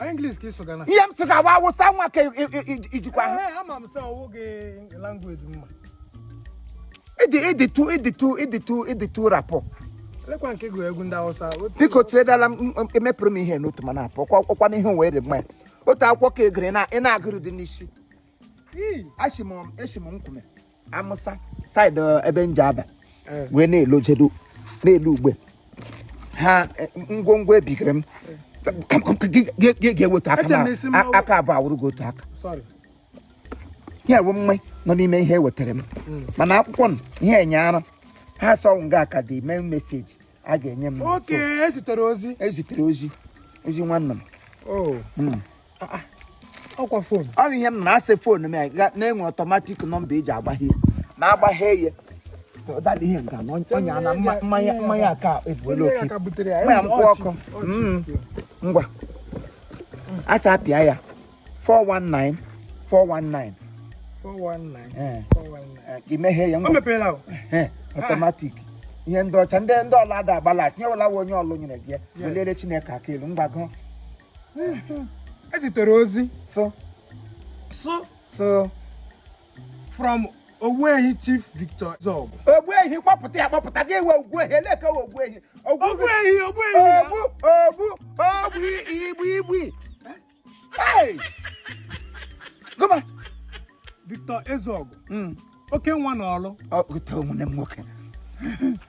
Ọ English ka ị sụga na. ihe m sị gawa awụsa nwa ka i- i- i- ijikwa ahụ Ee, ama m sị ọwụ gị language mma. ịdị ịdị tu ịdị tu ịdị tu ịdị tu rapụ Lekwa nke gụrụ egwu ndị Hausa. Otu- biko tiredala m m- emepụrụ m ihe n'otu mana apụ kwa ọkwa na ihe wee dị mma ya otu akwụkwọ ka egere na ị na-agụrụ dị n'isi Ii, esi m esi m nkume amụsa saịdị uh, ebe nje aba eh. wee na-elojedo n'elu ugbe ha eh, ngwongwo ebigere m ga-eweta aka abụọ awụrụ gị otu aka ya wụ mma nọ n'ime ihe ewetara m hmm. mana akwụkwọ m ihe enye ara ha sọwụ nga aka dị mee message a ga-enye m ezitere ozi ezitere ozi ozi nwanne m oh. hmm. ah, ah. ọkwa phone ọ bụ ihe m na-asị phone m ya na-enwe automatic number eji agbaghe na-agbaghe ya ụdadị ihe nke na ọnya na mmanya mmanya aka ebuola oke mmanya mkpụ ọkụ mm. ngwa asị apịa ya 419 419 419 419 imeghe ya ngwa automatic ihe ndị ọcha ndị ndị ọla ada agbala asị nye wela onye Ọlụ nyere gị ya welere chineke aka elu mgbago ezitere ozi so so so from Ogbuehi Chief Victor Ezeogu. Ogbuehi kpọpụta ya kpọpụta gị ewe Ogbuehi eleke Ogbuehi. Ogbuehi Ogbuehi. Ogbu ogbu ogbu igbu igbu. Goma. Victor Ezeogu. Hmm. Oke nwa n'Ọlụ. Ọ ụtọ nwanne m nwoke.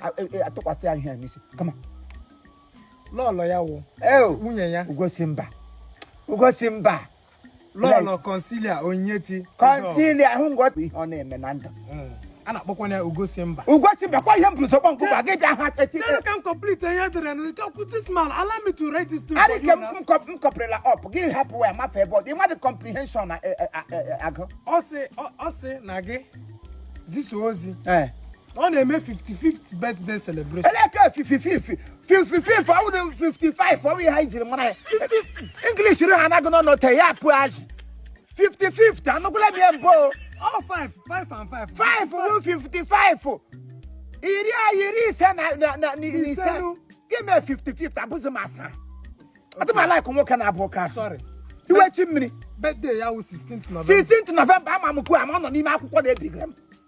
a- e- e- atụkwasị ya ihe a n'isi kama lọlọ ya wụ eo nwunye ya Ugosimba Ugosimba Lọlọ Concilia Onyechi Concilia ahụ ngọpụ ihe ọ na-eme na ndụ a na-akpọkwana ya Ugosimba Ugosimba kwa ihe m bụrụ sọgbọ nkụba gị bịa ha echi Chere ka m complete ihe edere na nke okwu this man allow me to write this thing for you now. m kọp- m completela up gị hapụ ya mafe ebe ọ dị mmadụ comprehension na e- e- a- e- e- agụ ọ sị ọ- ọ sị na gị zisa ozi ee ọ na-eme 55th birthday celebration eleke fifififi fifififi ọwụ na 55 ọwụ ihe anyị jiri mara ya English ri ha anaghị nọ n'ote ya pụ azị 55 anụgwụla m ya mbụ o. ọ five five and five 5 bụ 55 iri a iri ise na na- na na- na ise Ise nụ. gị mee 55 abụzi master atụmala ikụ nwoke na-abụ ụka asị sorry iwe chi mmiri birthday ya wụ 16th november 16th november ama m kwuo ama ọ nọ n'ime akwụkwọ na-ebigara m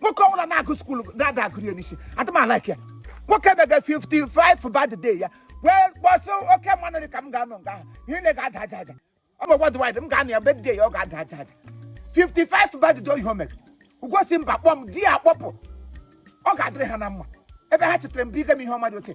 nwoke ọbụla na-agụ school ada agụrụ ya n'isi adị m a-like ya nwoke mega 55th birthday ya wee gbọsị oke mmanụ dị ka m ga-anọ nga ahụ ihe na ga-ada aja aja ọ bụ worldwide m ga-anọ ya birthday ya ọ ga-ada aja aja 55th birthday oyi o mere Ugosimba kpọọ m di ya akpọpụ ọ ga-adịrị ha na mma ebe ha chetere m bụ ige m ihe ọma dị oke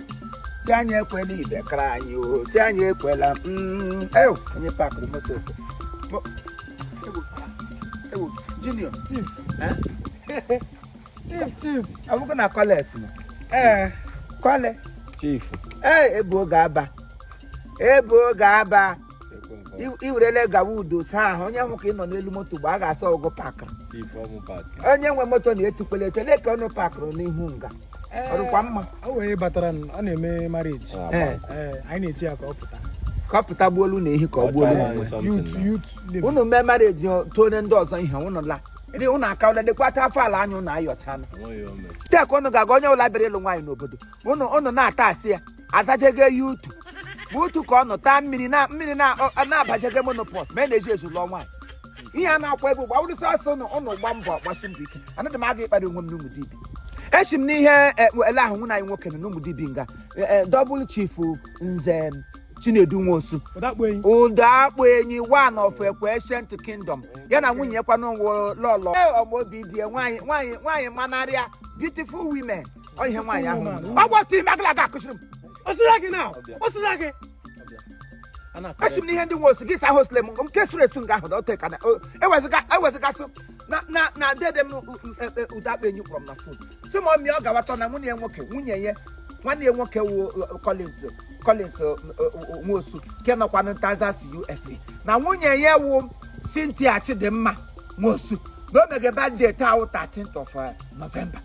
si anyị ekwela ibe kara anyị o si anyị ekwela mm, ew onye pakụrụ moto Mo- ewu, ewu, junior Chief. Eh? Chief, chief. ọ bụkwa na kọles nọ Ee. kọle chief ee ebu oge aba ebu oge aba i werele gawa udo saa ahụ onye hụ ka ị nọ n'elu moto mgbe a ga-asa ọgụ pakịrị onye nwe moto na-etukwele etu ole ka ụnụ pakịrị n'ihu nga ọrụkwa mma o wee batara ọ na-eme marriage ah, eh. eh, anyị na-eti ya ka ọ pụta ka ọ pụta gbuolu na ehi ka ọ gbuolu unu mee marriage too onye ndị ọzọ ihe ụnụ la ndị ụnụ aka ụlọ lekwata afọ ala anya ụnụ ayọchala tek ụnụ ga-aga onye ụla bịara ịlụ nwaanyị n'obodo ụnụ na-ata asị ya azajege youth ma utu ka ọ nọ taa mmiri na mmiri na- ọ- na-abajege menopause ma e na-eji ezu lụọ nwaanyị ihe a na-akwa ebe ugbu a wụrụ sọsọ ụnụ ụnụ gba mbọ gbasi mbọ ike anaghị m aga ịkpara onwe m n'Umudibi esi m n'ihe e, ele ahụ nwụna anyị nwoke nọ n'Umudibi nga double chief Nze Chinedu Nwosu ụdọ akpụ enyi one of Ekwe ancient kingdom ya na nwunye ya kwanụ wụ lọlọ ọmụ obi di ya nwaanyị nwaanyị nwaanyị manarịa beautiful women ọ ihe nwaanyị ahụ ọ wụ otu ime agala aga akụsịrị m osira gị na osira gị esi m n'ihe ndị Nwosu gị sa hosle m nke suru esu nga ahụ dọte ka na o- ewezụga ewezụgasị na na na dede m ụdọ akpụ enyi kpọrọ m na phone si m ọmịa ọ gawatọ na nwunye ya nwoke nwunye ya nwanne ya nwoke wu Collins Collins Nwosu nke nọkwanụ Texas USA na nwunye ya wu Cynthia Chidimma Nwosu na o mege birthday taa wụ 13th of eh, November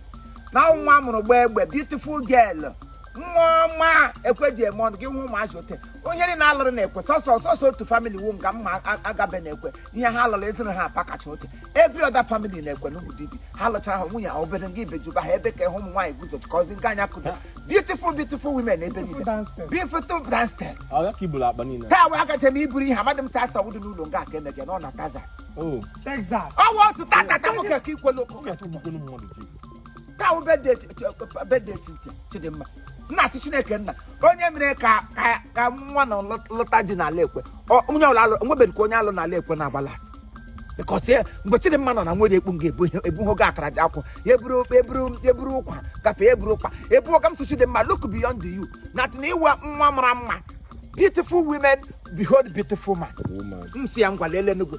na nwa a mụrụ gbaa egbe beautiful girl nwa ọma Ekwe ji eme ọnụ gị nwa ụmụazị ote onye niile a lụrụ na Ekwe sọsọ sọsọ otu family wu nga mma a- agabe na Ekwe ihe ha lụrụ ezinụlọ ha apa kacha ote every other family na Ekwe n'Umudibi ha lụchara ha nwunye ha obere nga ibejuba ha ebe ka ị hụ ụmụ nwaanyị guzochikọzi nga anya kụdo beautiful beautiful women ebe niile downstairs. beautiful dancing ọ ya ka iburu akpa niile taa wee akacha m iburu ihe amadị m sa asawudu n'ụlọ nga aka emege na ọ na Texas. ọ wụ otu tatata nwoke ka ikwelu ụkwụ oge atụgbukwu mmadụ taa wụ birthday Cynthia Chidimma m na-asị chineke nna onye mere ka ka ka nwa na lọta di n'ala ekwe Ọ- onye ọla alụ o nwebeghị ka onye alụ n'ala ekwe na-agbala asị because ya mgbe chidimma nọ na nwere ekpu nga ebu ebuho gị akara ji akwụ ya eburu eburu eburu ụkwa gafee eburu ụkwa ebu ọga m sị Chidimma look beyond you na atị na ị wụ nwa mara mma beautiful women behold beautiful man woman m si ya ngwa leele nugo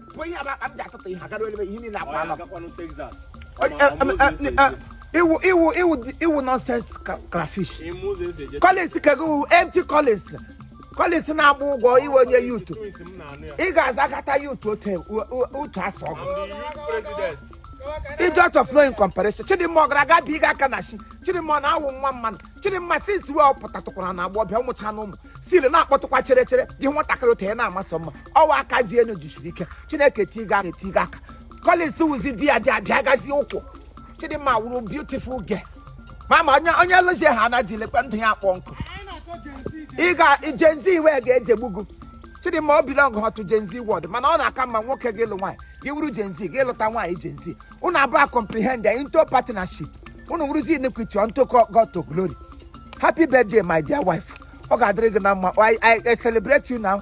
bụ ihe akpa m ji atụtụ ihe agara ebe ihe niile akwa anọ iwu iwu iwu iwu nonsense crayfish collins cargo empty collins collins na-agba ụgwọ iwe onye youth ị ga-azakata youth otu afọ ọgụ it's out of no comparison chidimma ọ gara aga bi ịga aka na chi chidimma ọ na-awụ nwa mmanụ chidimma since wee ọ pụtatụkwara na agba ọbịa ụmụcha na ụmụ siri na-akpọtụkwa chere chere dị nwatakịrị otu ya na-amasị mma ọwa aka ji enu jisiri ike chineke tiga aka etiga aka Collins wụzi di ya dị abịa gazi ụkwụ Chidimma wụrụ beautiful girl mama onye onye lụzie ha anaghị lekwa ndụ ya akpọ nkụ ị ga Gen Z iwe ga-ejegbu gị Chidimma o belong to Gen Z world mana ọ na-aka mma nwoke gị lụ nwaanyị gị wụrụ Gen Z gị lụta nwaanyị Gen Z unu abụọ comprehend into partnership unu wụrụzi iniquity unto God to glory happy birthday my dear wife ọ ga-adịrị gị na mma I, I, I celebrate you now